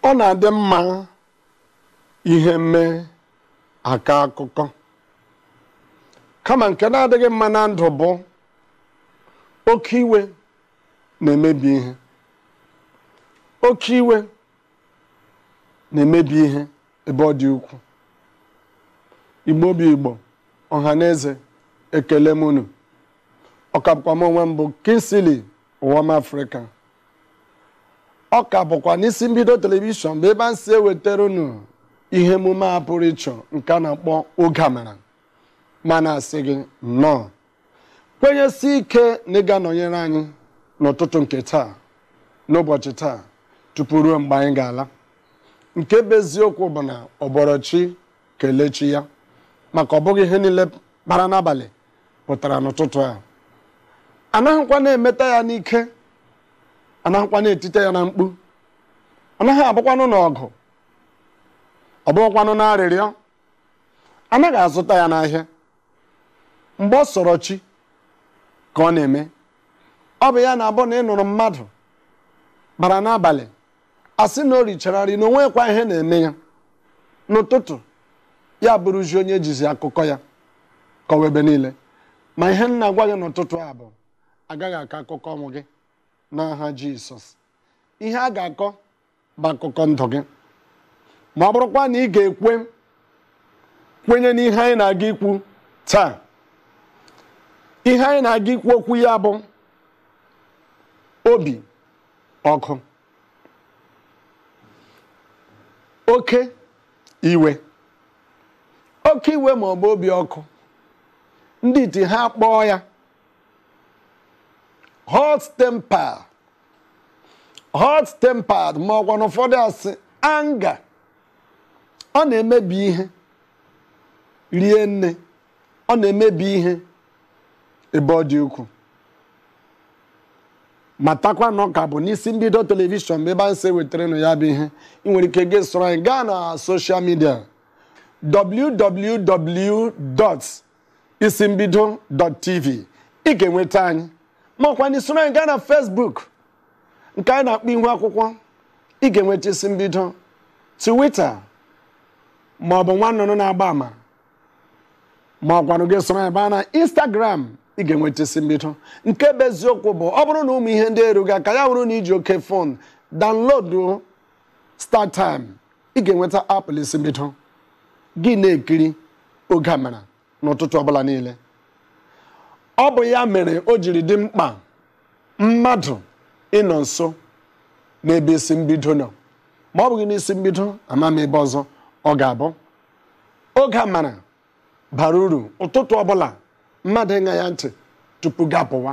ọ na-adị mma ihe mee akọọ akụkọ kama nke na-adịghị mma na ndụ bụ oke iwe na-emebi ihe oke iwe na-emebi ihe ebe ọ dị ukwuu igbo bụ igbo ọha na eze ekele m unu ọ ka bụkwa m onwe m bụ Kingsley ụwam Africa ọ ka bụkwa n'isi mbido telivishọn bụ ebe anyị si ewetara unu ihe emume a pụrụ iche nke a na-akpọ oge amara m na-asị gị nnọọ kwenyesi ike na ị ga-anọnyere anyị n'ụtụtụ nke taa n'ụbọchị taa tupu ruo mgbe anyị ga-ala nke bụ eziokwu bụ na ọ bọọrọ chi kelee chi ya maka ọ bụghị ihe niile bara n'abalị pụtara n'ụtụtụ a anaghịkwa na-emeta ya n'ike anaghịkwa na-etite ya na mkpu anaghị abụkwanụ n'ọgụ ọ bụghịkwanụ n'arịrịọ anaghị azụta ya n'ahịa mgbe ọ sọrọ chi ka ọ na-eme ọ bụ ya na-abụ na ị nụrụ mmadụ bara n'abalị asị na o richara nri na o nweghịkwa ihe na-eme ya n'ụtụtụ ya bụrụzi onye ejizi akụkọ ya kọwa ebe niile ma ihe m na-agwa gị n'ụtụtụ a bụ agaghị akọ akụkọ ọnwụ gị n'aha jisọs ihe a ga-akọ bụ akụkọ ndụ gị ma ọ bụrụkwa na ị ga-ekwe kwenye n'ihe anyị na-aga ikwu taa ihe anyị na-aga ikwu okwu ya bụ obi ọkụ oke iwe oke iwe ma ọ bụ obi ọkụ ndị iti ha kpọọ ya hot temper hot tempered ma ọ kwanụ ụfọdụ asị anger ọ na-emebi ihe rie nne ọ na-emebi ihe ebe ọ dị ukwuu matakwa na ọ ka bụ n'isi mbido telivishọn bụ ebe anyị si wetara unu ya bụ ihe ị nwere ike gị soro anyị gaa na social media www. isimbido.tv ị ga-enweta anyị ma ọ kwanụ i soro anyị gaa na Facebook nke anyị na-akpọ ihu akwụkwọ ị ga-enweta isi mbido Twitter ma ọ bụ nwa nnụnụ na-agba ama ma ọ kwanụ gị soro anyị baa na Instagram ị ga-enweta isi mbido nke bụ eziokwu bụ ọ bụrụ na ụmụ ihe ndị erughị aka ya bụrụ na i ji oke phone download StarTime ị ga-enweta app isi mbido gị na-ekiri oge amara n'ụtụtụ ọbụla niile ọ bụ ya mere o jiri dị mkpa mmadụ ịnọ nso n'ebe isi mbido nọ ma ọ bụghị n'isi mbido ama m ebe ọzọ ọ ga-abụ oge amara bara uru ụtụtụ ọbụla mmadụ ịṅa ya ntị tupu gị apụwa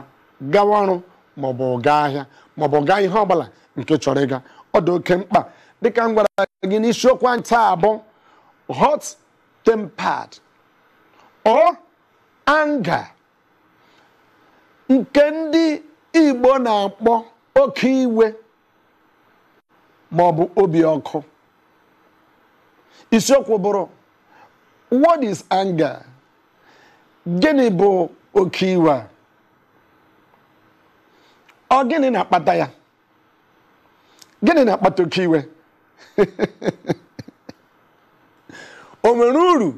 gawa ọrụ maọbụ gaa ahịa maọbụ gaa ihe ọbụla nke ị chọrọ ịga ọ dị oke mkpa dịka m gwara gị na isiokwu anyị taa bụ hot tempered or anger nke ndị Igbo na-akpọ oke iwe ma ọ bụ obi ọkụ isiokwu bụrụ what is anger gịnị bụ oke iwe a ọ gịnị na-akpata ya gịnị na-akpata oke iwe o nwere uru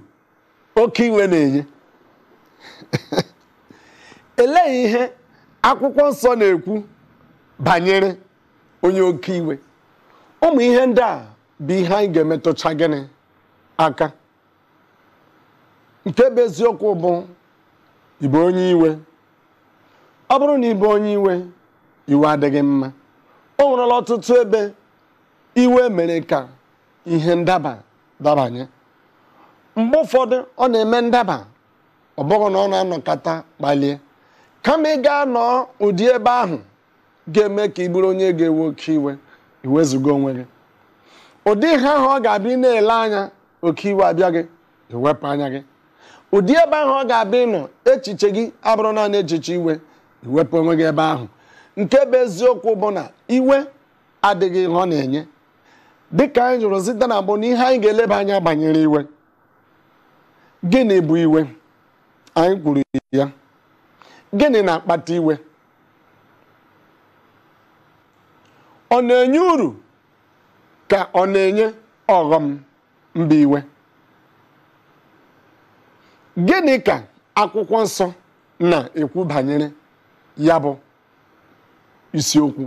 oke iwe na-enye elee ihe akwụkwọ nsọ na-ekwu banyere onye oke iwe ụmụ ihe ndị a bụ ihe anyị ga-emetụcha gịnị aka nke bụ eziokwu bụ ịbụ onye iwe ọ bụrụ na ị bụ onye iwe iwe adịghị mma o nwerela ọtụtụ ebe iwe mere ka ihe ndaba dabanye mgbe ụfọdụ ọ na-eme ndaba ọ bụghị na ọ na-anọkata kpalie kama ị ga-anọ ụdị ebe ahụ ga-eme ka ị bụrụ onye ga-ewe oke iwe i wezuga onwe gị ụdị ihe ahụ ọ ga-abịa na-ele anya oke iwe abịa gị i wepụ anya gị ụdị ebe ahụ ọ ga-abịa ịnọ echiche gị abụrụ naanị echiche iwe i wepụ onwe gị ebe ahụ nke bụ eziokwu bụ na iwe adịghị ihe ọ na-enye dịka anyị jụrụ site na mbụ na ihe anyị ga-eleba anya banyere iwe gịnị bụ iwe anyị kwuru ya gịnị na-akpata iwe ọ na-enye uru ka ọ na-enye ọghọm mba iwe gịnị ka akwụkwọ nsọ na-ekwu banyere ya bụ isiokwu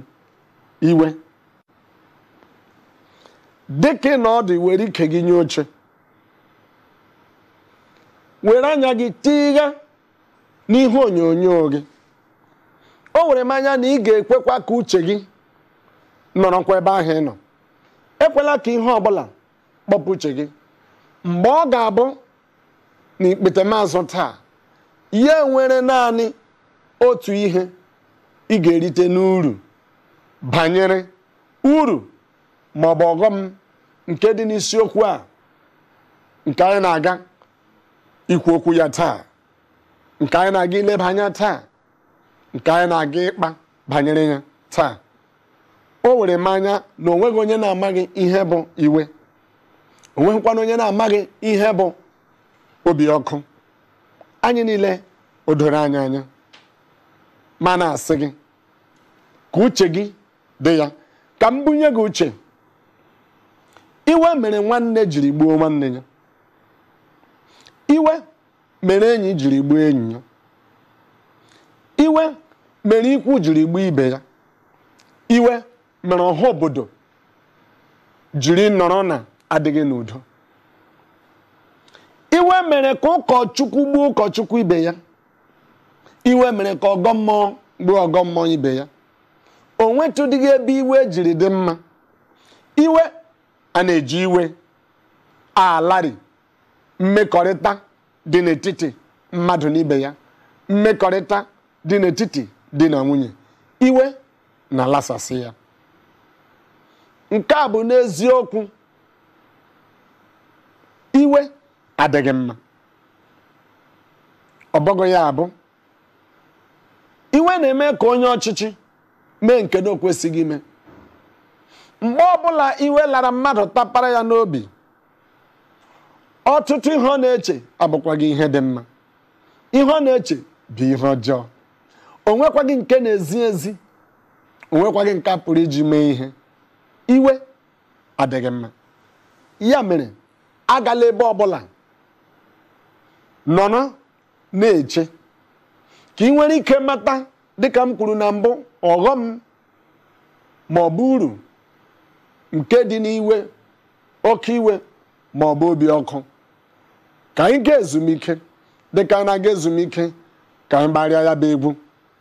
iwe dịka ị nọ ọdụ were ike gị nye oche were anya gị tigha n'ihe onyonyo gị o were m anya na ị ga-ekwekwa ka uche gị nọrọkwa ebe ahụ ị nọ ekwela ka ihe ọbụla kpọpụ uche gị mgbe ọ ga-abụ na ikpetamazụ taa ya nwere naanị otu ihe ị ga-erite n'uru banyere uru ma ọ bụ ọghọm nke dị n'isiokwu a nke anyị na-aga ikwu okwu ya taa nke anyị na-aga ileba anya taa nke anyị na-aga ịkpa banyere ya taa o were m anya na o nweghị onye na-amaghị ihe bụ iwe o nweghịkwanụ onye na-amaghị ihe bụ obi ọkụ anyị niile o doro anyị anya mana a sị gị ka uche gị dị ya ka m bunye gị uche iwe mere nwanne jiri gbuo nwanne ya iwe mere enyi jiri gbuo enyi ya iwe mere ikwu jiri gbuo ibe ya iwe mere ọha obodo jiri nọrọ na-adịghị n'udo iwe mere ka ụkọchukwu gbuo ụkọchukwu ibe ya iwe mere ka ọgọ mmụọ gbuo ọgọ mmụọ ibe ya o nwetụdịghị ebe iwe jiri dị mma iwe a na-eji iwe alarị mmekọrịta dị n'etiti mmadụ na ibe ya mmekọrịta dị n'etiti di na nwunye iwe na-alasasị ya nke a bụ n'eziokwu iwe adịghị mma ọ bụghị ya bụ iwe na-eme ka onye ọchịchị mee nke na o kwesịghị ime mgbe ọbụla iwe lara mmadụ tapara ya n'obi ọtụtụ ihe ọ na-eche abụkwaghị ihe dị mma ihe ọ na-eche bụ ihe ọjọọ o nwekwaghị nke na-ezi ezi o nwekwaghị nke a pụrụ iji mee ihe iwe adịghị mma ya mere agala ebe ọbụla nọrọ na-eche ka ị nwere ike mata dịka m kwuru na mbụ ọghọm ma ọ bụ uru nke dị n'iwe oke iwe ma ọ bụ obi ọkụ ka anyị gaa ezumike dịka anyị na-aga ezumike ka anyị gbarịa ya bụ egwu